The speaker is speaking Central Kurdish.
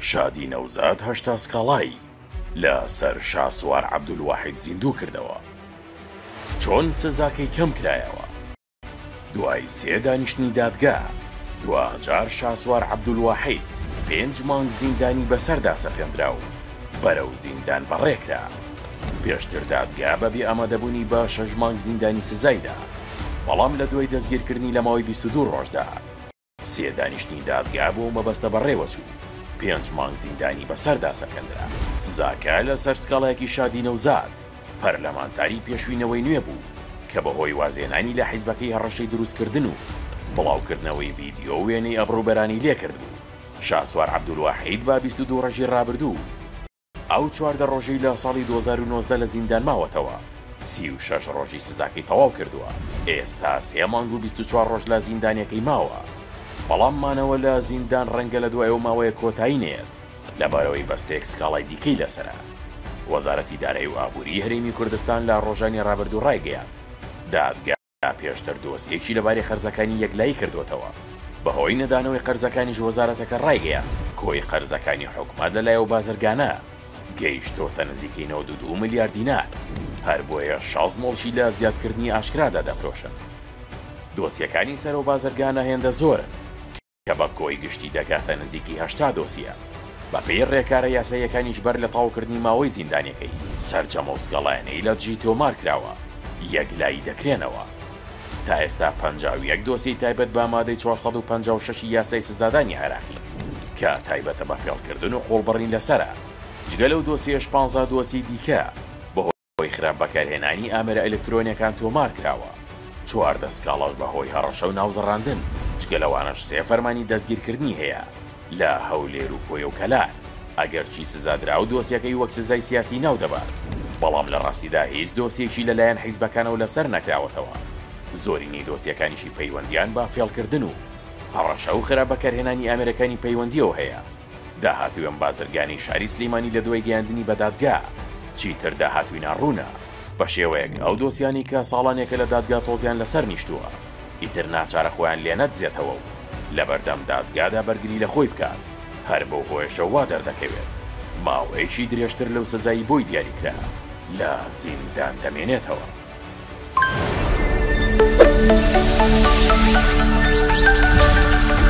شادی نەوزاد هەشتا سکاڵای لە سەر شاسوار عەبدولواحید زیندوو کردەوە چۆن سزاکەی کەم کرایەوە؟ دوای سێ دانیشتنی دادگا دواجار شاسوار عەبدولواحید پێنج مانگ زیندانی بەسەردا سەپێندرا و بەرەو زیندان بەڕێ کرا پێشتر دادگا بە بێ ئامادەبوونی بە شەش مانگ زیندانی سزای دا بەڵام لە دوای دەستگیرکردنی لە ماوەی بیست و دوو ڕۆژدا سێ دانیشتنی دادگا بۆ ئەو مەبەستە بەڕێوەچوو، پێنج مانگ زیندانی بەسەردا سەپێندرا. سزاکە لەسەر سکاڵایەکی شادی نەوزاد، پەرلەمانتاری پێشووی نەوەی نوێ بوو کە بەهۆی وازهێنانی لە حیزبەکەی هەڕەشەی دروستکردن و بڵاوکردنەوەی ڤیدیۆ و وێنەی ئەبڕوبەرانی لێکردبوو. شاسوار عەبدولواحید بە بیست و دوو ڕۆژی ڕابردوو، ئەو چواردە ڕۆژەی لە ساڵی دوو هەزار و نۆزدە لە زیندان ماوەتەوە، سی و شەش ڕۆژی سزاکەی تەواو کردووە، ئێستا سێ مانگ و بیست و چوار ڕۆژ لە زیندانەکەی ماوە، بەڵام مانەوە لە زیندان ڕەنگە لە دوای ئەو ماوەیە کۆتایی نەیەت، لەبارەوەی بەستێک سکاڵای دیکەی لەسەرە. وەزارەتی دارایی و ئابووریی هەرێمی کوردستان لە ڕۆژانی ڕابردوو ڕایگەیاند، دادگا، پێشتر دۆسیەکی لەبارەی قەرزەکانی یەکلایی کردووەتەوە، بەهۆی نەدانەوەی قەرزەکانیش وەزارەتەکە ڕایگەیاند، کۆی قەرزەکانی حکومەت لەلای ئەو بازرگانە گەیشتۆتە نزیکەی نەوەد و دوو ملیار دینار، هەر بۆیە شەست مۆڵکی لە زیادکردنی ئاشکرادا دەفرۆشن. دۆسیەکانی سەر ئەو بازرگانە هێندە زۆرن، کە بە کۆی گشتی دەگاتە نزیکی هەشتا دۆسیە، بەپێی ڕێکارە یاساییەکانیش بەر لە تەواوکردنی ماوەی زیندانیەکەی، سەرجەم ئەو سکاڵایانەی لە دژی تۆمارکراوە یەکلایی دەکرێنەوە. تا ئێستا پەنجا و یەک دۆسیەی تایبەت بە مادەی چوار سەد و پەنجا و شەش ی یاسای سزادانی عێراقی کە تایبەتە بە فێڵکردن و قۆڵبڕین لەسەرە، جگە لەو دۆسیەیەش پانزا دۆسیەی دیکە، هۆی خراپ بەکارهێنانی ئامێرە ئەلکترۆنیەکان تۆمار کراوە، چواردە سکاڵاش بە هۆی هەڕەشە و ناوزڕاندن، جگە لەوانەش سێ فەرمانی دەستگیرکردنی هەیە لە هەولێر و کۆیە و کەلار، ئەگەرچی سزادراو دۆسیەکەی وەک سزای سیاسی ناو دەبات، بەڵام لە ڕاستیدا هیچ دۆسیەکی لە لایەن حیزبەکانەوە لە سەر نەکراوەتەوە، زۆرینەی دۆسیەکانیشی پەیوەندیان بە فێڵکردن و هەڕەشە و خراپ بەکارهێنانی ئامێرەکانی پەیوەندیەوە هەیە. داهاتووی ئەم بازرگانی شاری سلیمانی لە دوای گەیاندنی بە دادگا چیتر داهاتووی ناڕوونە، بە شێوەیەک ئەو دۆسیانەی کە ساڵانێکە لە دادگا تۆزیان لە سەر نیشتووە ئیتر ناچارە خۆیان لێ نەدزێتەوە و لە بەردەم دادگادا بەرگری لە خۆی بکات، هەر بەو هۆیەشە وا دەردەکەوێت ماوەیەکی درێژتر لەو سزای بۆی دیاری کرا لە زیندان دەمێنێتەوە.